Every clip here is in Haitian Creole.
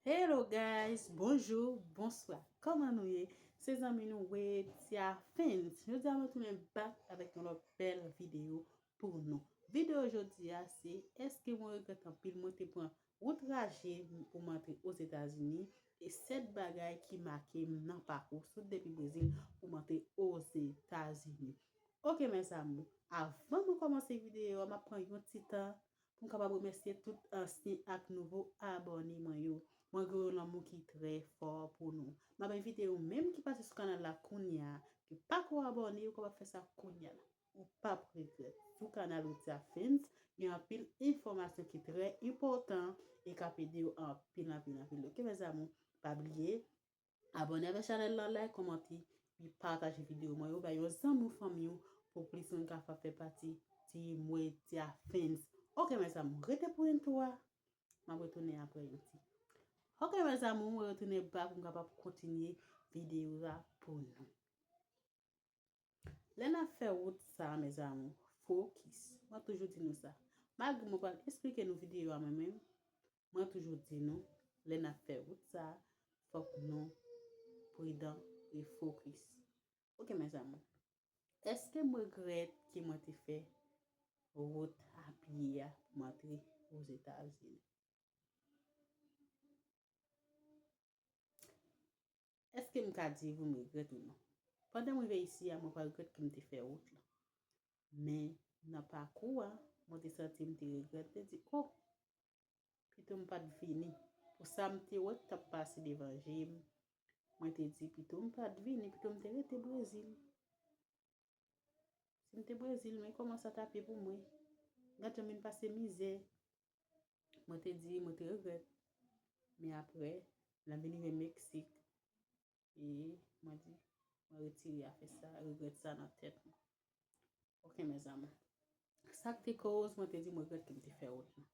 Hello guys, bonjou, bonswa, kòman nou ye? Se zanmi nou Wetia Fins. Jodi a mwen tounen bak avèk yon lòt bèl videyo pou nou. Videyo jodi a se eske mwen regrèt anpil mwen te pran wout raje pou mwen antre Ozetazini e 7 bagay ki make m nan pakou sot depi Brezil pou mwen antre Ozetazini. Ok mes amour, avan mwen kòmanse videyo a m ap pran yon ti tan Pou m kapab remèsye tout ansyen ak nouvo abòne mwen yo. Mwen gen yon lanmou ki trè fò pou nou. M ap envite ou menm ki pase sou kanal la kounya, ki pa ko abòne, ou kapab fè sa kounya la. Ou p ap regrèt. Sou kanal Widya Films, gen anpil enfòmasyon ki trè enpòtan e k ap ede ou anpil anpil anpil. Ok mes amours, pa bliye. Abone avèk chanèl la like komante epi pataje video mwen yo bay yon zanmi ou fanmi ou pou plis moun ka fè pati ti mwe ti a fans ok mes amour rete pou intro a map retounen aprè yon ti ok mes amour mwen retounen back mwen kapab kontinye video a pou nou. Lè n ap fè wout sa a mezanmi, fokis. Mwen toujou di nou sa. Malgre mwen pral esplike nou videyo a mwen menm, mwen toujou di nou lè n ap fè wout sa a, fòk nou pridan e fokis. Ok mezanmi, èske m regrèt ke mwen te fè wout apye a pou m antre Ozetazini? Èske m ka di ou m regrèt ou non? Pandan m rive isi a, mwen pa regrèt ke m te fè wout lan. Men, nan pakou a, mwen te santi m te regrèt, m te di, O! Pito m pa t vini pou sa m te wè k t ap pase devan je m. Mwen te di, pito m pa t vini, pito m te rete Brezil. Si m te Brezil, men kòman sa tap ye pou mwen. Gad jan m vin pase mizè. Mwen te di, mwen te regrèt. Men apre, lèm vin rive Meksik, e mwen di, mwen retire afè sa, regrèt sa nan tèt mwen. Ok mèzamou. Sa k te koz mwen te di m regrèt ke m te fè wout lan.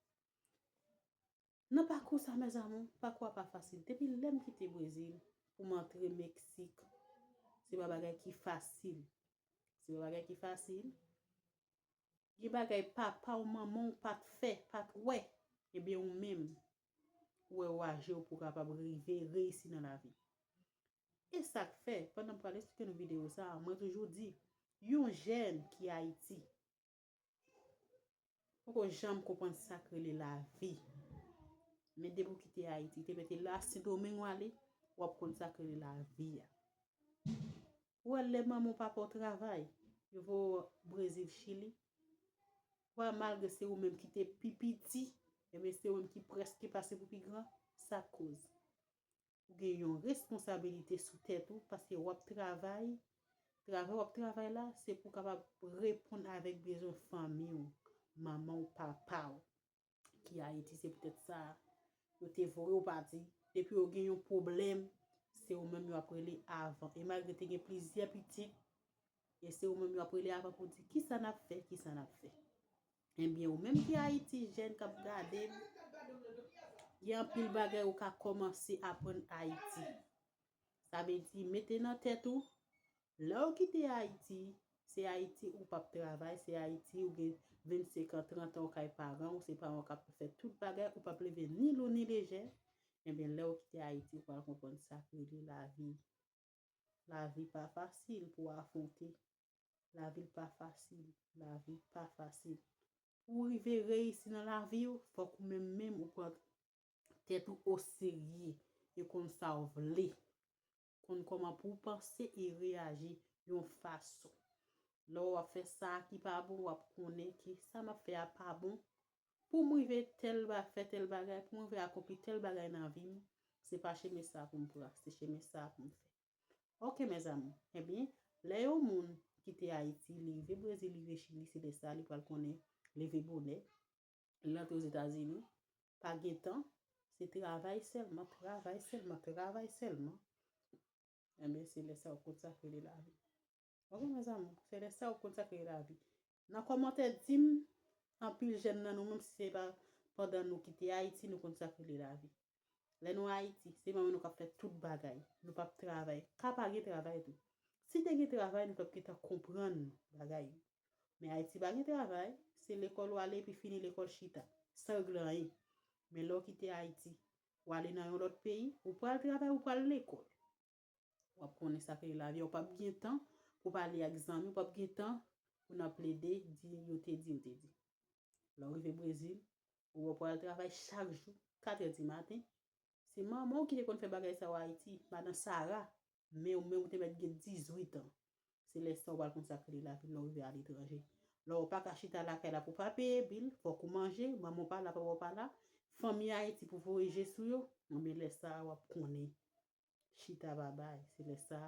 Nan pakou sa mes amour, pakou a pa fasil. Depi lèm kite Brezil pou m antre Meksik, se pa bagay ki fasil. Se pa bagay ki fasil. Gen bagay papa w, manman w pa t fè, pa t wè. Ebyen ou menm, ou wè ou aje w pou w kapab rive reyisi nan lavi. E sa k fè, pandan m pral esplike nou videyo sa a, mwen toujou di, yon jèn ki Ayiti, Poko janm konprann sak rele lavi. Men depi ou kite Ayiti, te mete la Sendomeng ou ale, wap konn sak rele lavi a. Ou wè lè manman ou papa ou travay, yo voye ou Brezil, Chili, ou wè malgre se ou menm ki te pi piti, e men se ou menm ki preske pase pou pi gran, sak koz. Ou gen yon responsabilite sou tèt ou paske wap travay, travay wap travay la se pou kapab reponn avèk bezwen fanmi ou, manman ou, papa ou ki Ayiti se poutèt sa yo te voye ou pati, depi yo gen yon pwoblèm se ou menm yo ap rele avan e malgre te gen plizyè pitit e se ou menm yo ap rele avan pou di kisa nap fè, kisa nap fè. Ebyen ou menm ki Ayiti jèn k ap gade m, gen anpil bagay ou ka kòmanse aprann Ayiti. Sa vle di mete nan tèt ou, lè ou kite Ayiti, se Ayiti ou p ap travay, se Ayiti ou gen 25 an, 30 an ou kay paran ou, se paran ou k ap fè tout bagay, ou p ap leve ni lou ni lejè, ebyen lè ou kite Ayiti ou pral konprann sa k rele lavi. Lavi pa fasil pou afwonte. Lavi pa fasil. Lavi pa fasil. Pou ou rive reyisi nan lavi ou, fòk ou menm menm ou pran tèt ou o serye e konn sa ou vle. Konn kòman pou ou panse e reyaji yon fason. Lè ou ap fè sa ki pa bon, ou ap konnen ke sa m ap fè a pa bon, Pou m rive tèl ba fè tèl bagay, pou m rive akonpli tèl bagay nan vi m, se pa chemen sa pou m pran, se chemen sa pou m fè. Ok mèzamou, ebyen, lè yon moun kite Ayiti, li rive Brezil, li rive Chili, se lè sa li pral konnen leve bonè, li rantre Ozetazini, pa gen tan, se travay sèlman, travay sèlman, travay sèlman, ebyen se lè sa ou konn sa k rele lavi. Ok mes amour se le sa ou konn sa ki lavi nan komante dim anpil jen nan nou menm si se pa pandan nou ki te ayiti nou konn sa ki le lavi le nou ayiti se manman nou kap fe tout bagay nou pap travay ka pa gen travay tou si te gen travay nou tap gentan konprann bagay men ayiti pa gen travay se lekol wale epi fini lekol chita san regle anyen men le ou kite ayiti wale nan yon lot peyi ou pral travay ou pral lekol. wap konnen sa kre lavi a, ou pap gen tan pou pale ak zanmi, ou pap gen tan pou nan plede di yo te di, yo te di. Lè ou rive Brezil, ou wè pou al travay chak jou, katrè di maten, se manman ou ki te konn fè bagay sa yo Ayiti, madan Sara, men ou menm ou te mèt gen 18 an, se lè sa ou pral konn sa kre lavi lè ou rive aletranje. Lè ou paka chita lakay la pou pa peye bil, fòk ou manje, manman ou pa la, papa ou pa la, fanmi Ayiti pou voye je sou yo, enben lè sa a wap konnen chita babay, se lè sa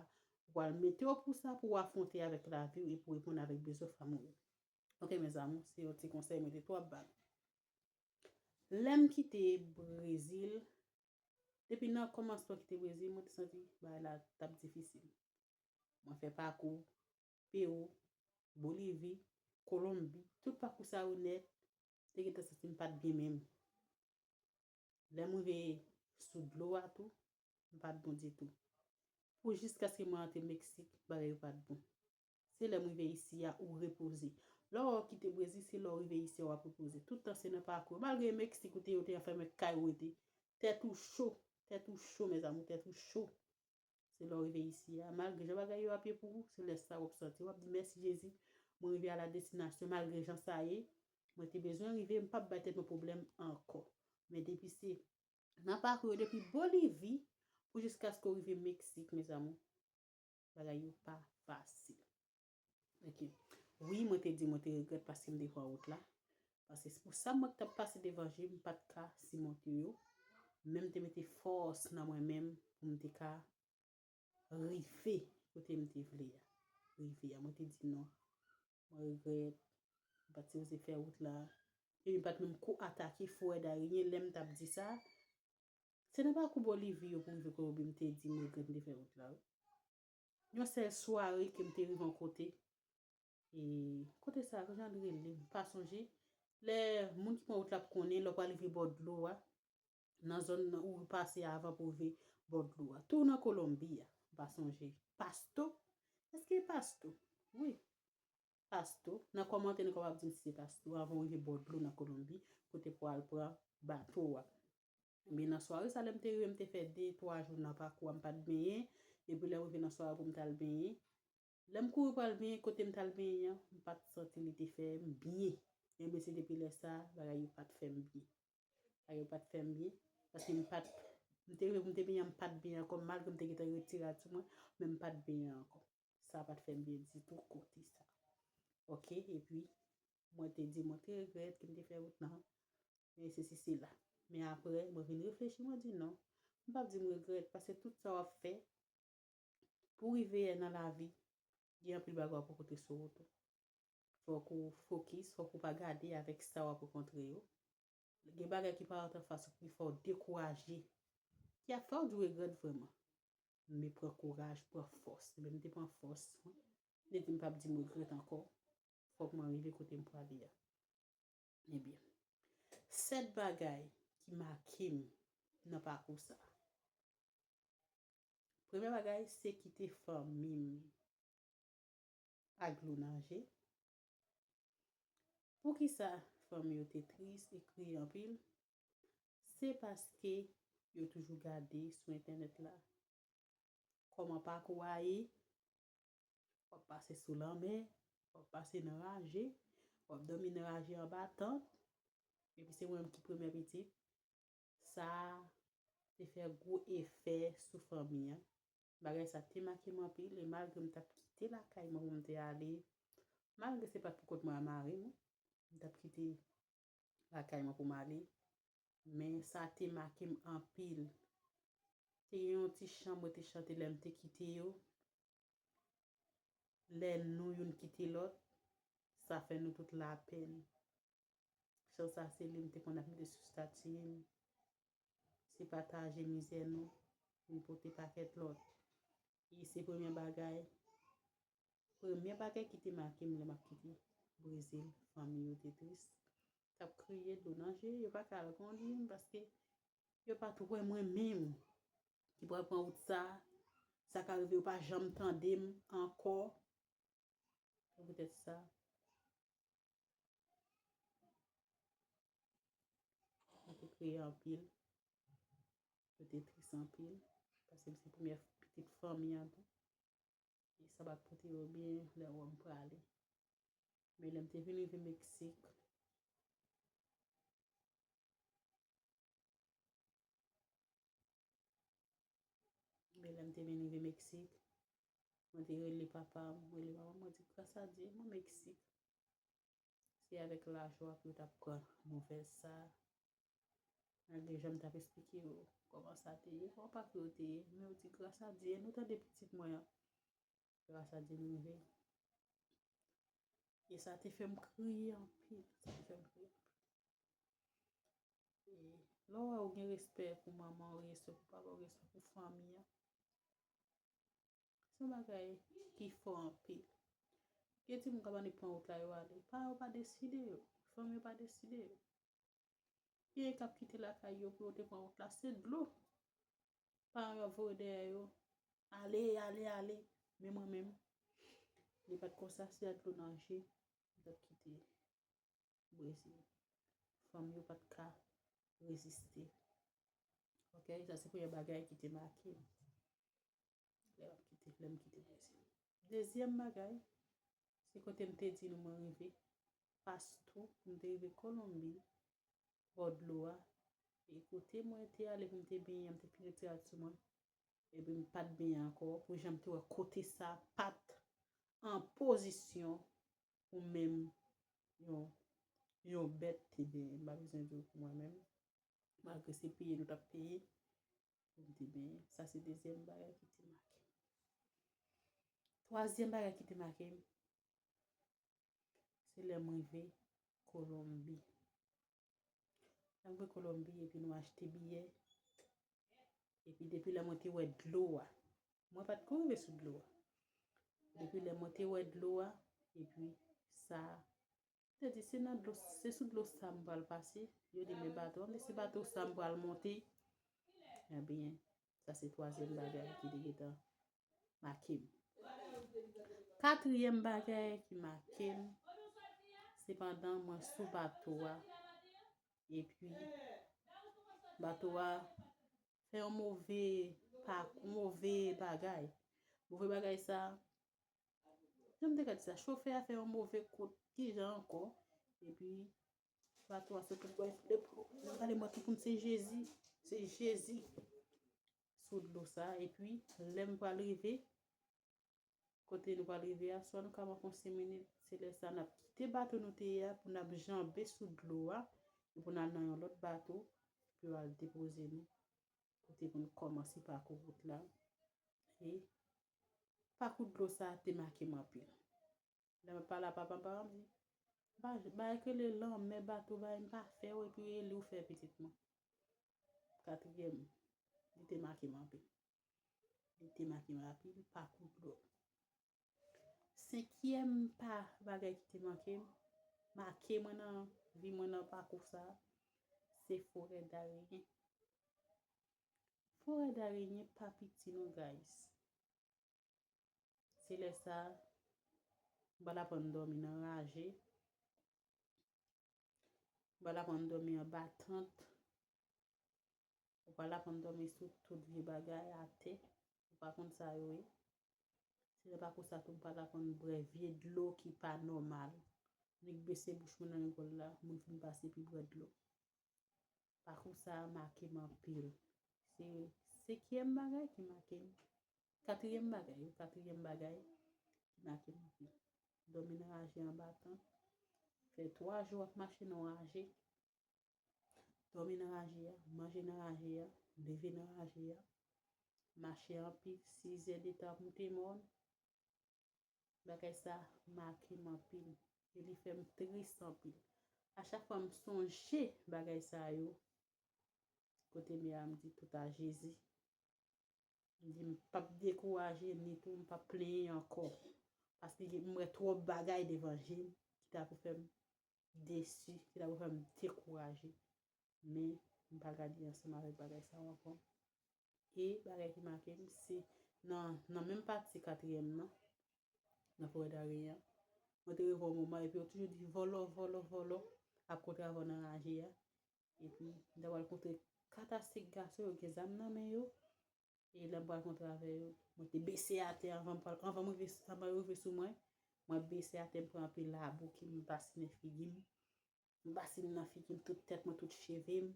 ou pral mete yo pou sa pou ou afwonte avèk lavi ou e pou reponn avèk bezwen fanmi ou yo. Ok mes amours, se yon ti konsèy mwen te twòp bay. Lèm kite Brezil, depi nan kòmansman kite Brezil mwen te santi bagay la tap difisil. Mwen fè pakou Pérou, Bolivie, Colombie, tout pakou sa yo nèt, te gentan santim pat byen menm. Lè m rive sou dlo a tou, m pa t bon ditou. Pou jiskaske mwen antre Meksik, bagay yo pa t bon. Se lè m rive isi a ou repoze. Lè w kite Brezil, se lè w rive isi a w ap repoze. Tout tan se nan pakou yo. Malgre Meksik ou te yo te anfèmen kay ou rete. Tèt ou cho, tèt ou cho mèzamou, tèt ou cho. Se lè w rive isi a, malgre jan bagay yo ap ye pou ou, se lè sa w ap santi w ap di mèsi Jezi, mwen rive a la destinasyon malgre jan sa ye, mwen te bezwen rive, m p ap bay tèt mwen pwoblèm ankò. Men depi se N ap pakou yo depi Bolivi pou jiskaske w rive Meksik mezanmi bagay yo pa fasil. Ok. Wi mwen te di mwen te regret paske m te pran wout la. Paske pou sa mwen k tap pase devan je m pat ka simonte yo. Men m te mete fòs nan mwen menm pou m te ka rive kote m te vle a. Rive a. Mwen te di non. Mwen regret. M pat sipoze fè wout la. Epi m pat menm ko atake forè darien lè m tap di sa. Se nan pakou Bolivie yo pou m rive kote m te di m regret m te fè wout la wi. Yon sèl sware ke m te rive yon kote, e kote sa a, ki jan li rele? M pa sonje. Lè moun ki konn wout la ap konnen, lè w pral rive bò dlo a, nan zòn nan ou pase avan pou rive bò dlo a. Tou nan Kolonbi a. M pa sonje. Pasto? Èske e Pasto? Wi. Pasto. Nan kòmantè nou kapab di m si se Pasto avan ou rive bò dlo nan Kolonbi, kote pou al pran bato a. Men nan sware sa lè m te rive m te fè de twa jou nan pakou a m pa t benyen epi lè m rive nan sware pou m t al benyen lè m kouri pral benyen kote m t al benyen an m pa t santi li te fè m byen enben se depi lè sa bagay yo pa t fè m byen bagay yo pa t fè m byen paske m pa t m te rive pou m te benyen an m pa t benyen ankò malgre m te gentan retire a sou mwen men m pa t benyen ankò sa pa t fè m byen ditou kote sa ok epi. Mwen te di mwen te regrèt ke m te fè wout nan, e sesi sela. Men apre, mwen vin reflechi mwen di non, m pap di m regrèt, paske tout sa w ap fè pou w rive nan lavi, gen anpil bagay w ap rankontre sou wout ou. Fòk ou fokis, fòk ou pa gade avèk sa w ap rankontre yo. Gen bagay ki paret an fas ou ki fè w dekouraje, ki ap fè w di w regrèt vrèman. Men pran kouraj, pran fòs. Ebyen m te pran fòs, m te di m pap di m regrèt ankò. Fòk mwen rive kote m prale a. Ebyen, 7 bagay ki make m nan pakou sa. Premye bagay se kite fanmi m ak dlo nan je. Poukisa fanmi yo te tris e kriye anpil? Se paske yo toujou gade sou entènèt la kòman pakou a ye, wap pase sou lanmè, wap pase nan raje, wap domi nan raje anba tant, epi se mwen menm ki premye pitit, sa te fè gwo efè sou fanmi an, bagay sa te make m anpil, e malgre m tap kite lakay mwen pou m te ale, malgre se pat pou kont mwen a mari m, m tap kite. lakay mwen pou m ale, men sa te make m anpil. Te gen yon ti chan mwen te chante lè m te kite yo, Lè nou youn kite lòt, sa fè nou tout lapenn. Chan sa se li m te konn ap mete sou stati m. Se pataje mizè nou, nou pote pakèt lòt. E se premye bagay, premye bagay ki te make m lè m ap kite Brezil. Fanmi yo te tris, yo t ap kriye dlo nan je, yo pa t ka al kondi m paske yo pa t wè mwen menm ki pral pran wout sa. Sa ka rive yo pa janm tande m ankò. Se poutèt sa. Mwen te kriye anpil. Mwen te tris anpil. Paske m se premye pitit fanmi an tou. E sa pa t pote yo byen lè wè m prale. Men lè m te vin rive Meksik. Men lè m te vin rive Meksik. Mwen te rele papa m. Mwen rele mama m. Mwen di, Grasadye, mwen Meksik. Se avèk lajwa pou yo t ap pran nouvèl sa a. Malgre jan m t ap esplike yo kòman sa te ye, kòman pakou yo te ye, men yo di, Grasadye, nou tande pitit mwen an. Grasadye m rive. E sa te fè m kriye anpil. Sa te fè m kriye anpil. E lè w wè ou gen respè pou manman ou, respè pou papa ou, respè pou fanmi an. Son bagay ki fò anpil. Gen timoun kap annik pran wout la yo ale. Pa yo pa deside yo. Fanmi yo pa deside yo. Gen kap kite lakay yo pou yo te pran wout la. Se dlo. Paran yo ap voye dèyè yo. Ale, ale, ale. Men mwen menm. Li pat konsa si ak dlo nan je. Mwen tap kite. Brezil. Fanmi yo pat ka reziste. Ok. Sa se premye bagay ki te make. Lè wap kite, lè m kite Brezil. Dezyèm bagay, se kote m te di nou mwen rive, Pasto, m te rive Kolonbi, bò dlo a, e kote mwen te ale pou m te benyen, m te pi retirad sou mwen, epi m pat benyen ankò, pou jan m te wè kote sa pat an pozisyon pou menm yon yon bèt te benyen, m pa bezwen di w pou mwen menm, malgre se peye nou tap peye, pou m te benyen. Sa se dezyèm bagay ki te make m. Twazyèm bagay ki te make m, se lè m rive Kolonbi. Lè m rive Kolonbi epi nou achte biyè, epi depi lè mwen te wè dlo a, mwen pa t ko rive sou dlo a, depi lè mwen te wè dlo a, epi sa Yo di, se nan dlo, se sou dlo sa m pral pase. Yo di, men bato an, men se bato sa m pral monte. Ebyen, sa se twazyèm bagay ki te gentan make m. Katriyèm bagay ki make m, se pandan mwen sou bato a, epi bato a fè yon move, move bagay. Move bagay sa, Jan m te ka di sa, chofè a fè yon move kout, ki jan ankò, epi bato a sot anba e plop. Mwen gade mwen tou koum se Jezi, se Jezi sou dlo sa, epi lè m pral rive, kote nou pral rive a, swa nou ka pran konsi minit, se lè sa n ap kite bato nou te ye a, pou n ap janbe sou dlo a, pou n al nan yon lòt bato, pou yo al depoze nou. pou te konn kòmanse pakou wout la e pakou dlo sa te make m anpil. Lè m ap pale a papa m, papa m di, Bagay k rele lanmè, bato, bagay m pa fè yo epi Eli ou fè pitit mwen. Katriyèm, li te make m anpil. Li te make m anpil pakou dlo. Senkyèm pa bagay ki te manke m, make mwen nan vi mwen nan pakou sa, se forè darenyen. Forè darenyen pa piti non guys. Se lè sa, m pa t aprann dòmi nan raje, m pa t aprann dòmi anba tant, Ou pral aprann dòmi sou tout vye bagay atè. Ou pa konn sa yo ye. Se lè pa kou sa tou m pral aprann bwè vye dlo ki pa nòmal. Nèk bese bouch mwen nan lekòl la, moun fin pase epi bwè dlo. Pakou sa a make m anpil. Se sekyèm bagay ki make m. Katryèm bagay wi, katryèm bagay ki make m anpil. Dòmi nan raje anba tan. Fè 3 jou w ap mache nan w raje. Dòmi nan raje a, manje nan raje a, leve nan raje a, mache anpi, sizè detan ap moute mòn, bagay sa make m anpil, e li fè m tris anpil. A chak fwa m sonje bagay sa yo, kote mè a m di tout a Jezi, m di m pa p dekouraje ni tou m pa p plenyen ankò, paske m wè twòp bagay devan je m ki ta pou fè m desi, ki ta pou fè m dekouraje. Men, m pa gade ansanm avèk bagay sa yo ankò. E, bagay ki make m, se nan menm pati katriyèm nan, nan Forèdare a, mwen te rive yon moman epi yo toujou di vòlò, vòlò, vòlò, ap kontre avè w nan raje a. Epi, m ta pral kontre kat a sik gason yo gen zam nan men yo. E lè m pral kontre avè yo, mwen te bese atè anvan m pral, anvan mwen, anvan yo rive sou mwen, mwen bese atè m pran anpil labou ki m basinen figi m, m basinen nan figi m tout tèt mwen, tout cheve m,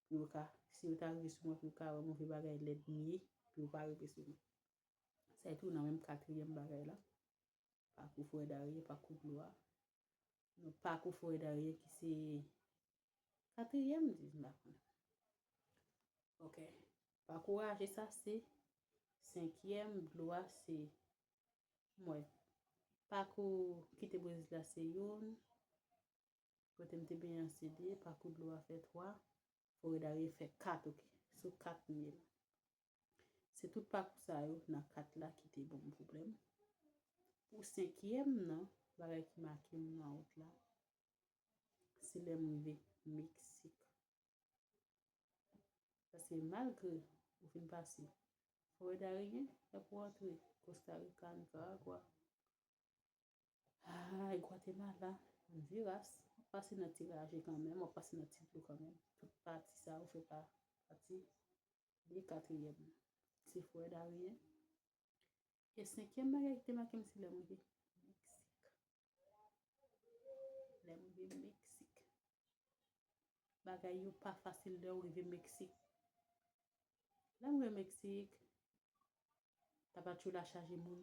pou yo ka, si yo ta rive sou mwen pou yo ka wè move bagay lèd m ye, pou yo pa rive sou mwen. Sa e tou nan menm katriyèm bagay la. Pakou Frè Darye, Pakou Glwa, nan Pakou Frè Darye ki se katriyèm m di, m pa konnen. Ok, Pakou Raje sa se senkyèm, Glwa se mwen. Pakou kite Brezil la se youn, kote m te benyen an se de, Pakou Glwa fè twa, Frè Darye fè kat ok, sou kat mil. Se tout pakou sa yo nan 4 la ki te banm pwoblèm. Pou senkyèm nan, bagay ki make m nan wout la, se lè m rive Meksik. Paske malgre ou fin pase Forè Dariyen, lè pou antre Kosta Rika, Nikaragwa, ay Gwatemala, Ondiras, ou pase nan ti raje kanmenm, ou pase nan ti dlo kanmenm. Tout pati sa yo fè pa pati. Li katriyèm nan, se frè Darien. E senkyèm bagay ki te make m se lè mwen te Bagay yo pa fasil lè ou rive Meksik. Lè mwen Meksik, ta pa tjou la chaje moun.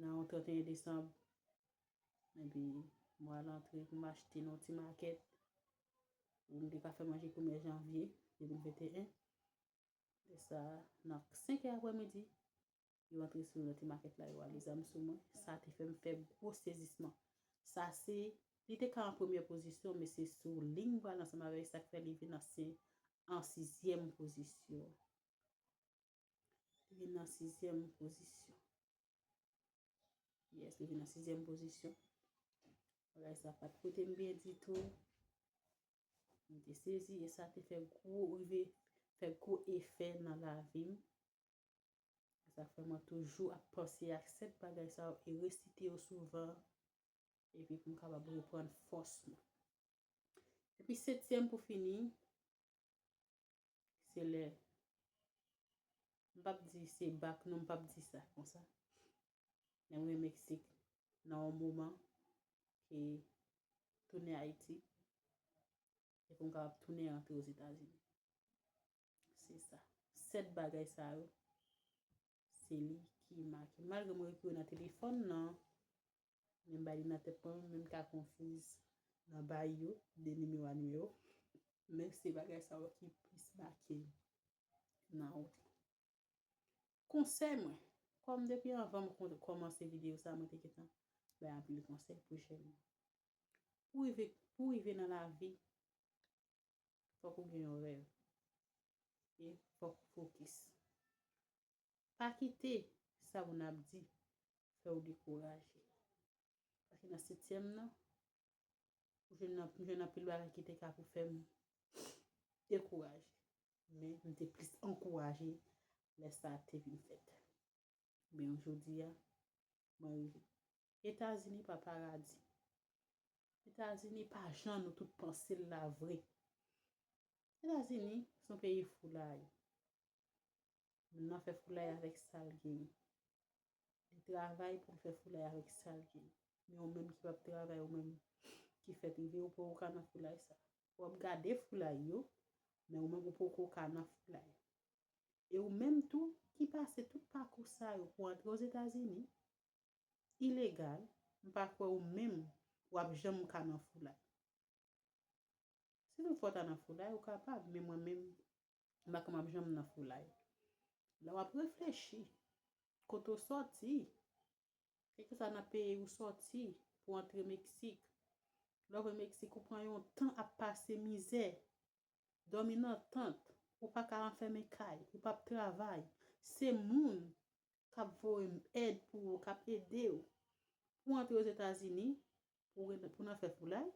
Nan yon 31 desanm, epi m al antre pou m achte nan yon ti makèt pou m te ka fè manje premye janvye 2021. Lè sa, nan 5 è aprè midi, yo antre sou yon ti makèt la, yo ale zam sou mwen. Sa te fè m fè gwo sezisman. Sa se, li te ka an premye pozisyon, men se sou ling bal ansanm avè li, sa k fè li vin an sizyèm pozisyon. Li vin nan sizyèm pozisyon. Yes, li vin nan sizyèm pozisyon. Bagay sa pat pote m byen ditou. M te sezi e sa te fè gwo rive, fè gwo efè nan lavi m. Sa fè mwen toujou ap panse ak 7 bagay sa yo e resite yo souvan epi pou m kapab reprann fòs mwen. Epi setyèm pou fini, Se lè, m p ap di se bak non, m p ap di sa konsa. Lè m rive Meksik, nan yon moman ke tounen Ayiti, e pou m kapab tounen rantre Ozetazini. Se sa. Sèt bagay sa yo, se li ki make. Malgre m ekri yo nan telefòn nan, Men m bay li nan tèt pam men m ka konfiz nan bay yo de nimewo a nimewo men se bagay sa yo ki plis make m nan wout la. Konsèy mwen, kòm depi anvan m kòmanse videyo sa mwen te gentan bay anpil konsèy pou jèn yo. Pou rive pou rive nan lavi fòk ou gen yon rèv e fòk ou fokis. Pa kite sa moun ap di fè ou dekouraje. Paske nan setyèm nan, m jwenn anpil bagay ki te ka pou fè m dekouraje. Men, m te plis ankouraje lè sa te vin fèt. Men, jodi a, mwen rive. Etazini pa paradi. Etazini pa jan nou tout panse l la vre. Etazini, son peyi foulay. Moun nan fè foulay avèk sa l genyen. Li travay pou l fè foulay avèk sa l genyen. Men ou menm ki pap travay ou menm ki fè TV ou poko ka nan foulay sa. Ou ap gade foulay yo, men ou menm ou poko ka nan foulay. E ou menm tou ki pase tout pakou sa yo pou antre Ozetazini, ilegal, m pa kwè ou menm ou ap janm ka nan foulay. Si tout fwa w ta nan foulay ou kapab, men mwen menm M pa konn map janm nan foulay. Lè wap reflechi, kote w sòti, e ke sa nan peyi ou sòti pou antre Meksik. Lè w vin Meksik ou pran yon tan ap pase mizè, dòmi nan tant, ou pa ka anfèmen kay, ou pap travay. Se moun kap voye èd pou ou, kap ede ou pou antre Ozetazini, Pou nan fè foulay?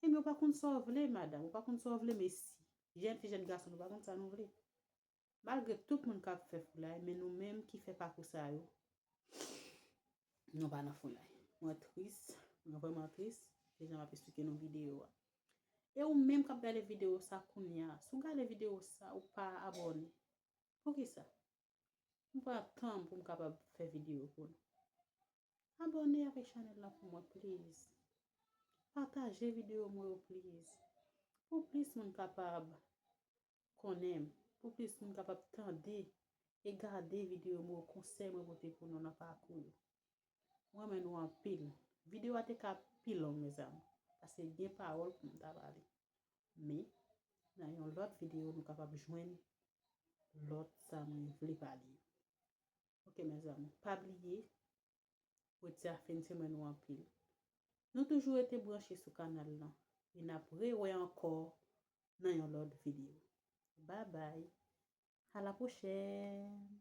Ebyen ou pa konn sa w vle madam, ou pa konn sa w vle mesi. Jèn fi, jèn gason nou pa konn sa nou vle. Malgre tout moun ka ap fè foulay, men nou menm ki fè pakou sa yo, nou pa nan foulay. Mwen tris, mwen vreman tris, se jan m ap esplike nou videyo a. E ou menm k ap gade videyo sa kounya, si w gade videyo sa ou pa abòne, poukisa? M pran tan m pou m kapab fè videyo pou nou. Abòne avèk chanèl la pou mwen please. Pataje videyo mwen yo please. Pou plis moun kapab konnen m. Pou plis moun kapab tande e gade videyo mwen yo konsèy mwen pote pou nou nan pakou yo. M renmen nou anpil. Videyo a te ka pi long mezanmi. Pase gen pawòl pou m ta pale. Men nan yon lòt videyo nou kapab jwenn lòt sa mwen vle pale yo. Ok mes amour pa bliye redi a fin semen ou anpil nou toujou rete branche sou kanal lan e nap re wè ankò nan yon lòt video bye bye a la prochèn.